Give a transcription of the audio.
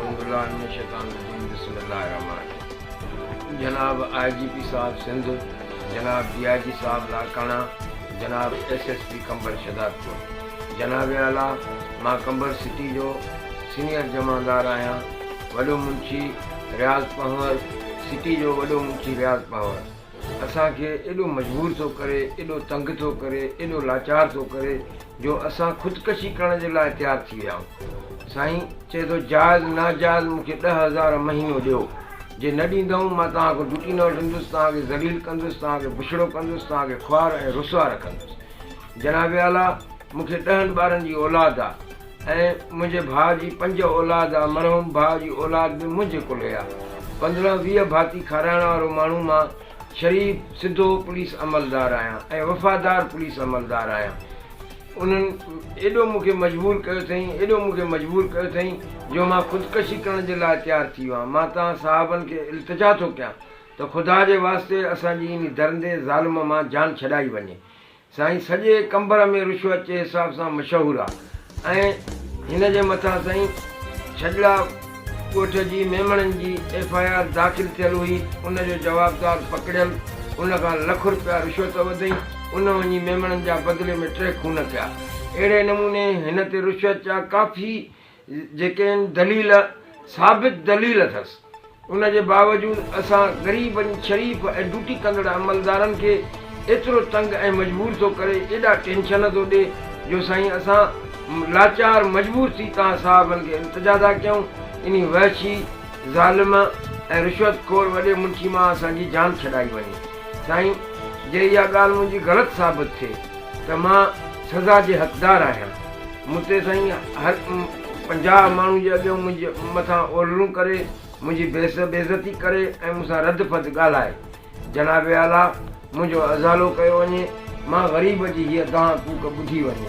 اعوذ بالله من الشيطان الرجيم بسم الله الرحمٰن الرحيم جناب آء جي پي صاحب سنڌ جناب ڊي آء جي صاحب لاڙڪاڻا جناب S S P Qambar Shahdadpur جناب اعليٰ مان قمبر سٽي جو سينئر جمعدار آھيان وڏو منشي رياض پنھور سٽي جو وڏو منشي رياض پنھور اسان کي ايڏو مجبور ٿو ڪري، ايڏو تنگ ٿو ڪري، ايڏو لاچار ٿو ڪري جو اسان خودڪشي ڪرڻ جي لاء تيار ٿي ويا آهيون. سائين چئي ٿو جائز ناجائز مون کي ڏهه هزار مهينو ڏيو، جي نه ڏيندؤن مان توهان کان ڊوٽي نه وٺندس، توهان کي ذليل ڪندس، توهان کي بڇڙو ڪندس، توهان کي خوار ۽ رسوا رکندس. جناب اعليٰ مون کي ڏهن ٻارن جي اولاد آ. ۽ منهنجي ڀاء جي پنج اولاد آ، مرحوم ڀاء جي اولاد به منهنجي ڪلهي آ. پندرهن ويهه ڀاتي کارائڻ وارو ماڻهو مان شريف سڌو پوليس عملدار آهيان ۽ وفادار پوليس عملدار آهيان. انهن ايڏو مون کي مجبور ڪيو اٿئين، ايڏو مون کي مجبور ڪيو اٿئين جو مان خودڪشي ڪرڻ جي لاء تيار ٿي ويو آهيان. مان توهان صاحبن کي التجا ٿو ڪيان ته خدا جي واسطي اسان جي انهي درندي ظالم مان جان ڇڏائي وڃي. سائين سڄي قمبر ۾ رشوت جي حساب سان مشهور آ ۽ هن جي مٿان سائين ڇڄڙا ڳوٺ جي ميمڻن جي ايف آء آر داخل ٿيل هئي ان جو جوابدار پڪڙيل ان کان لک رپيا رشوت وڌئين ان وڃي ميمڻن جا بدلي ۾ ٽي خون ٿيا اهڙي نموني هن تي رشوت جا ڪافي جيڪين دليل ثابت دليل اٿس ان جي باوجود اسان غريبن شريف ۽ ڊوٽي ڪندڙ عملدارن کي ايترو تنگ ۽ مجبور ٿو ڪري ايڏا ٽينشن ٿو ڏي جو سائين اسان لاچار مجبور ٿي توهان صاحبن کي التجا ٿا ڪيون انهي وحشي ظالم ۽ رشوت خور وڏي منشي مان اسان جي جان ڇڏائي وڃي سائين جي اها ڳالهه منهنجي غلط ثابت ٿئي ته مان سزا جي حقدار آهيان. مون تي سائين هر پنجاهه ماڻهن جي اڳيان منهنجي مٿان اولڙون ڪري، منهنجي بيعزتي ڪري ۽ مون سان رد فد ڳالهائي. جناب اعليٰ منهنجو ازالو ڪيو وڃي، مان غريب جي هيء دانهن ڪوڪ ٻڌي وڃي.